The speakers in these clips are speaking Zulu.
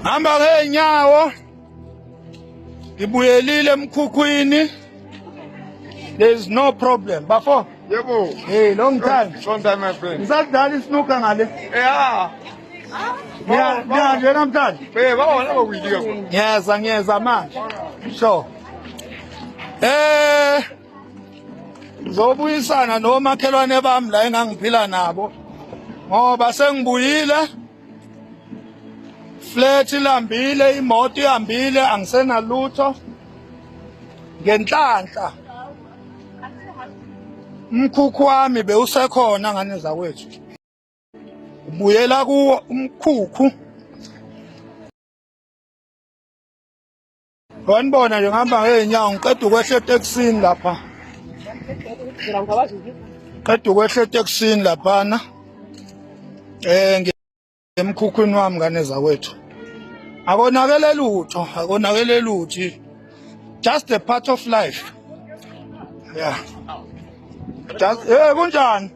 hamba ngeenyawo ngibuyelile emkhukhwini there is no problem bafo yebo hey long time long time my friend ngisadlala isnuka ngale yeah ngiyanje namhlanje ngiyeza ngiyeza manje so eh zobuyisana nomakhelwane bami la engangiphila nabo ngoba sengibuyile flat ilambile imoto ihambile angisenalutho ngenhlanhla umkhukhu wami bewusekhona ngane zakwethu ubuyela kuwo umkhukhu Wanibona nje ngihamba ngeenyawo ngiqeda ukwehla etekisini lapha. Qeda ukwehla etekisini laphana. Eh ngemkhukhwini wami ngane zakwethu. Akonakele lutho, akonakele luthi. Just a part of life. Yeah. Just eh kunjani?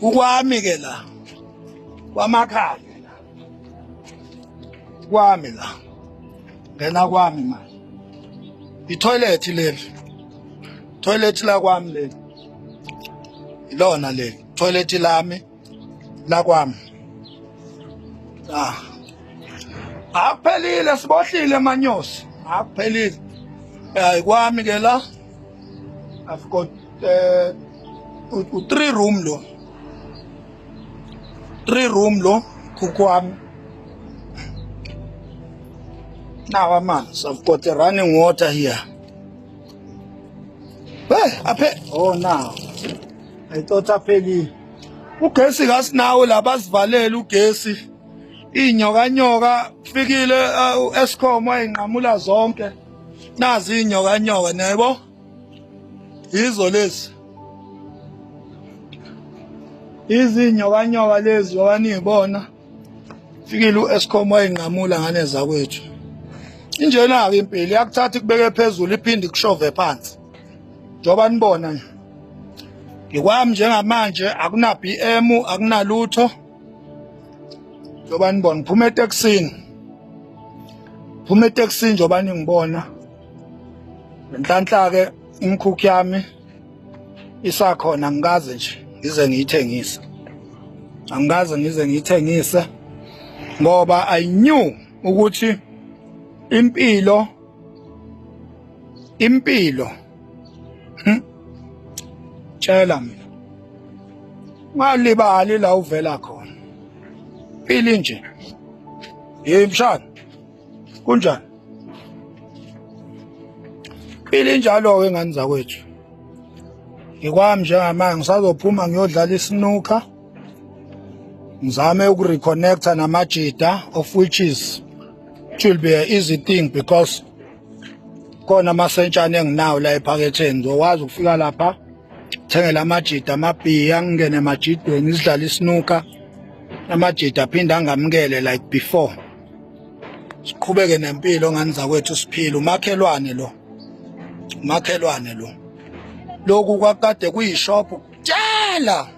ukwami ke la kwamakhaya kwami la ngena kwami manje itoilet leli toilet la kwami leli ilona leli toilet lami la kwami ah akuphelile sibohlile manyosi akuphelile ayikwami ke la I've got uh, three room lo three room lo kukwami now amanzi I've got a running water here hey aphe oh now I thought aphelile ugesi kasinawo labasivalela ugesi inyoka nyoka fikile uh, escom wayinqamula zonke nazi inyoka nyoka niyaybo yizo lezi izinyoka nyoka lezi owanibona fikile uEscom wayinqamula ngane zakwethu injena ke impilo yakuthatha ikubeke phezulu iphinde kushove phansi njoba nibona nje ngikwami njengamanje akuna BM akunalutho njengoba nibona phuma etekisini phuma etekisini njengoba ningibona ngenhlanhla-ke imikhukhu yami isakhona ngikaze nje ngize ngiyithengise angikaze ngize ngiyithengise ngoba i knew ukuthi impilo impilo Hmm? Tshela mina. Ungalibali la uvela khona. Phili nje. Hey mshana. Kunjani? Phili njalo ke ngani zakwethu. Ngikwami njengamanje ngisazophuma ngiyodlala isinuka. ngizame ukureconnecta namajita of which is it will be an easy thing because khona amasentshane enginawo la ephaketheni ngizokwazi ukufika lapha thengela amajida amabhiya ngingene emajidweni sidlala isinuka amajida aphinde angamukele like before siqhubeke nempilo ngani zakwethu siphila umakhelwane lo umakhelwane lo lokhu kwakade kuyishophu kutshela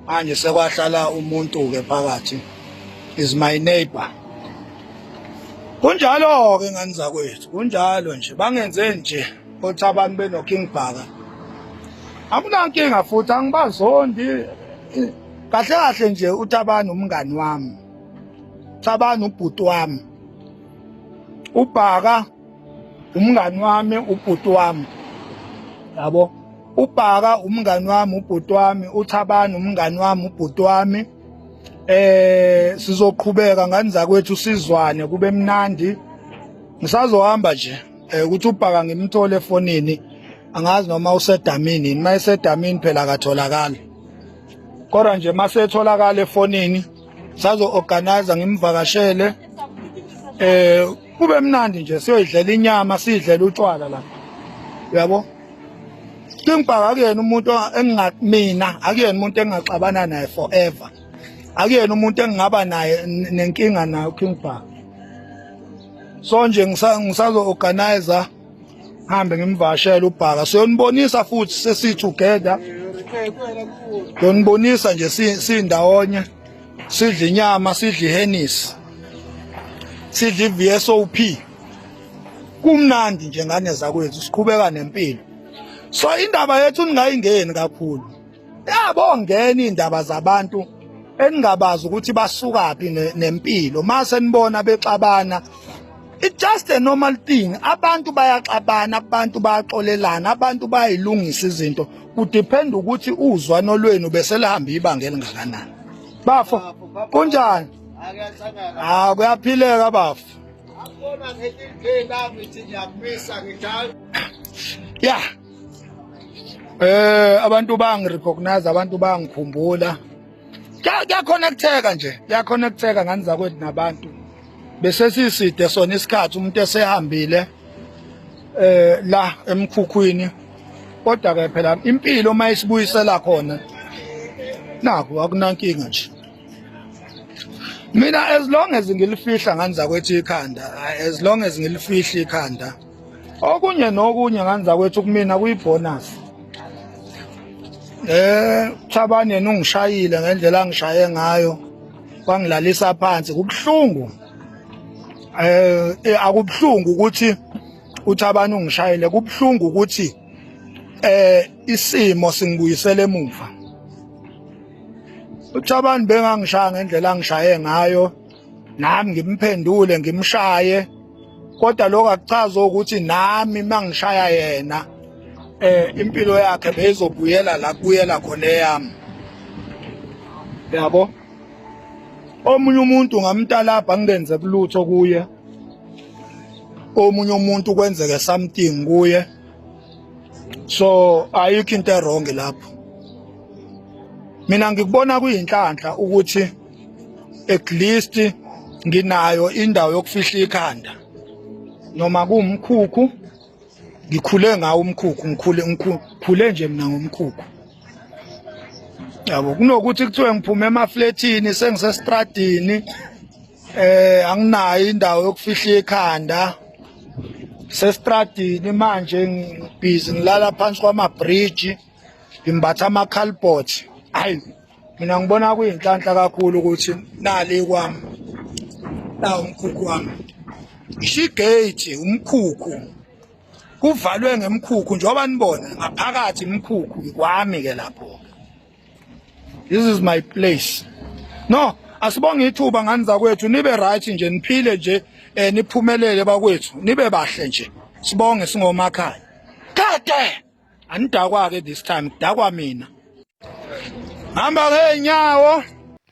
manje sekwahlala umuntu ke phakathi is my neighbor kunjalo ke ngani zakwethu kunjalo nje bangenze nje othi abantu beno King Bhaka akunankinga futhi angibazondi kahle kahle nje uThabani umngani wami Thabani ubhuti wami ubhaka umngani wami ubhuti wami yabo ubhaka umngani wami ubhuti wami uthabani umngani wami ubhuti wami eh sizoqhubeka ngani zakwethu sizwane kube mnandi ngisazohamba nje eh, ukuthi ubhaka ngimthole efonini angazi noma usedamini yini mayesedamini phela akatholakali kodwa nje masetholakala efonini sazo-organiza ngimvakashele eh kube mnandi nje siyoyidlela inyama sidlela utshwala la uyabo Kingibhaka akuyena umuntu engingamina akuyena umuntu engingaxabana naye forever akuyena umuntu engingaba naye nenkinga nayo Kingibhaka so nje ngisazo organizer hambe ngimvashela ubhaka siyonibonisa futhi sesi together yonibonisa nje sindawonye sidla inyama sidla ihenisi sidla i-vsop kumnandi nje ngane zakwethu siqhubeka nempilo so indaba yethu ningayingeni kakhulu yabo ngena indaba zabantu eningabazi ukuthi basukaphi nempilo mase nibona bexabana It's just a normal thing. Abantu bayaxabana, abantu bayaxolelana, abantu bayilungisa izinto. Kudepend ukuthi uzwano lwenu beselihamba ibanga elingakanani. Bafo, kunjani? Ah, kuyaphileka bafo. Yeah. Eh abantu bangi recognize abantu bangikhumbula. Kya connecteka nje, kya connecteka ngani zakwethu nabantu. Bese siside sona isikhathi umuntu esehambile eh la emkhukhwini. Kodwa ke phela impilo uma isibuyisela khona naku akunankinga nje. Mina as long as ngilifihla ngani zakwethu ikhanda, as long as ngilifihla ikhanda. okunye nokunye nganza kwethu kumina kuyibonus eh Thabani yena ungishayile ngendlela angishaye ngayo wangilalisa phansi kubuhlungu eh, eh akubuhlungu ukuthi uThabani ungishayile kubuhlungu ukuthi eh isimo singibuyisele emuva uThabani bengangishaya ngendlela angishaye ngayo nami ngimphendule ngimshaye kodwa lokho akuchazi ukuthi nami mangishaya yena eh impilo yakhe beyizobuyela la kuyela khona eyami yabo omunye umuntu ngamtalabha ngenze kulutho kuye omunye umuntu kwenzeke something kuye so ayikho into erong lapho mina ngikubona kuyinhlanhla ukuthi at least nginayo indawo yokufihla ikhanda noma kuwumkhukhu ngikhule ngawo umkhukhu ngikhule ngikhule nje mina ngomkhukhu yabo kunokuthi kuthiwe ngiphume emafletini sengisestradini eh anginayo indawo yokufihla ikhanda sestradini manje ngibhizi ngilala phansi kwama-bridge ngimbatha ama-calbot hayi mina ngibona kuyinhlanhla kakhulu ukuthi nali kwami na umkhukhu wami ishigate umkhukhu kuvalwe ngemkhukhu njengoba nibona ngaphakathi imkhukhu kwami ke lapho this is my place no asibonge ithuba ngani zakwethu nibe right nje niphile nje eh niphumelele bakwethu nibe bahle nje sibonge singomakhaya kade anidakwa-ke this time kudakwa mina hamba ngey'nyawo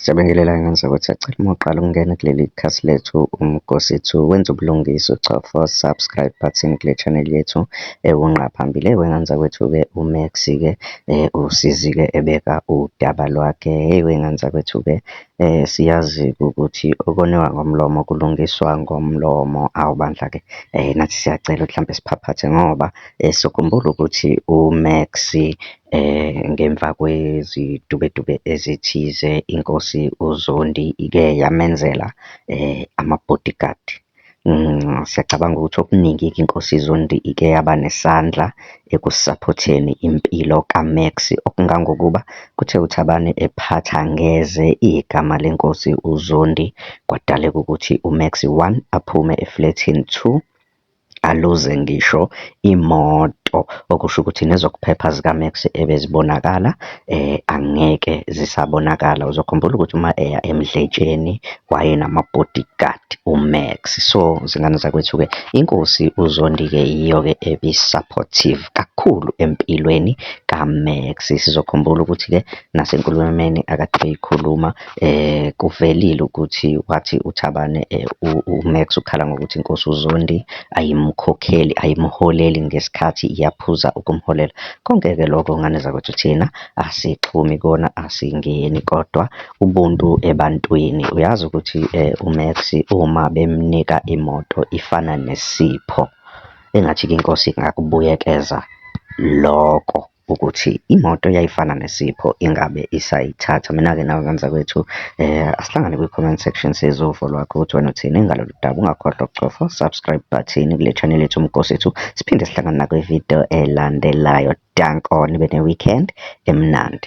Siyabingelela ingane zakwethu sacela uma uqala ukungena kuleli khasi lethu umgosithu wenza ubulungiswa uchofa subscribe button kule channel yethu ewunqa eh, phambili wengane zakwethu-ke umax-ke um eh, usizi-ke ebeka udaba lwakhe hey wengane zakwethu-ke Siyazi ukuthi okoniwa ngomlomo kulungiswa ngomlomo. Awu bandla ke nathi siyacela ukuthi hlampe siphaphathe ngoba sokhumbula ukuthi uMax ngemva kwezidubedube ezithize, inkosi uZondi ike yamenzela ama-bodyguard. Siyacabanga ukuthi okuningi-ke iNkosi iZondi ike yaba nesandla ekusaphotheni impilo kaMax, okungangokuba kuthe uThabani ephatha ngeze igama leNkosi uZondi, kwadaleka ukuthi uMax one, aphume eflethini, two, aluze ngisho imoto, okusho ukuthi nezokuphepha zikaMax ebezibonakala angeke zisabonakala. Uzokhumbula ukuthi uma eya emdletsheni wayenama-bodyguard uMax. So, zingane zakwethu-ke inkosi uZondi-ke yiyo-ke ebi-supportive kakhulu empilweni kaMax. Sizokhumbula ukuthi-ke nasenkulumeni akade beyikhuluma. Kuvelile ukuthi wathi uThabane uMax ukhala ngokuthi inkosi uZondi ayimkhokheli, ayimholeli ngesikhathi iyaphuza ukumholela. Konke-ke lokho ngane zakwethu thina asixhumi kona, asingeni kodwa ubuntu ebantwini. Uyazi ukuthi uMax uma bemnika imoto ifana nesipho, engathi-ke inkosi ingakubuyekeza loko. ukuthi imoto yayifana nesipho ingabe isayithatha. Mina-ke nawe nganzakwethu asihlangane kwi-comment section sizwe uvo lwakho ukuthi wena uthini ngalolu daba. Ungakhohlwa ukucofa subscribe button kule channel yethu umgosi ethu. Siphinde sihlangane nakwividiyo elandelayo. Dank on ibe ne-weekend emnandi.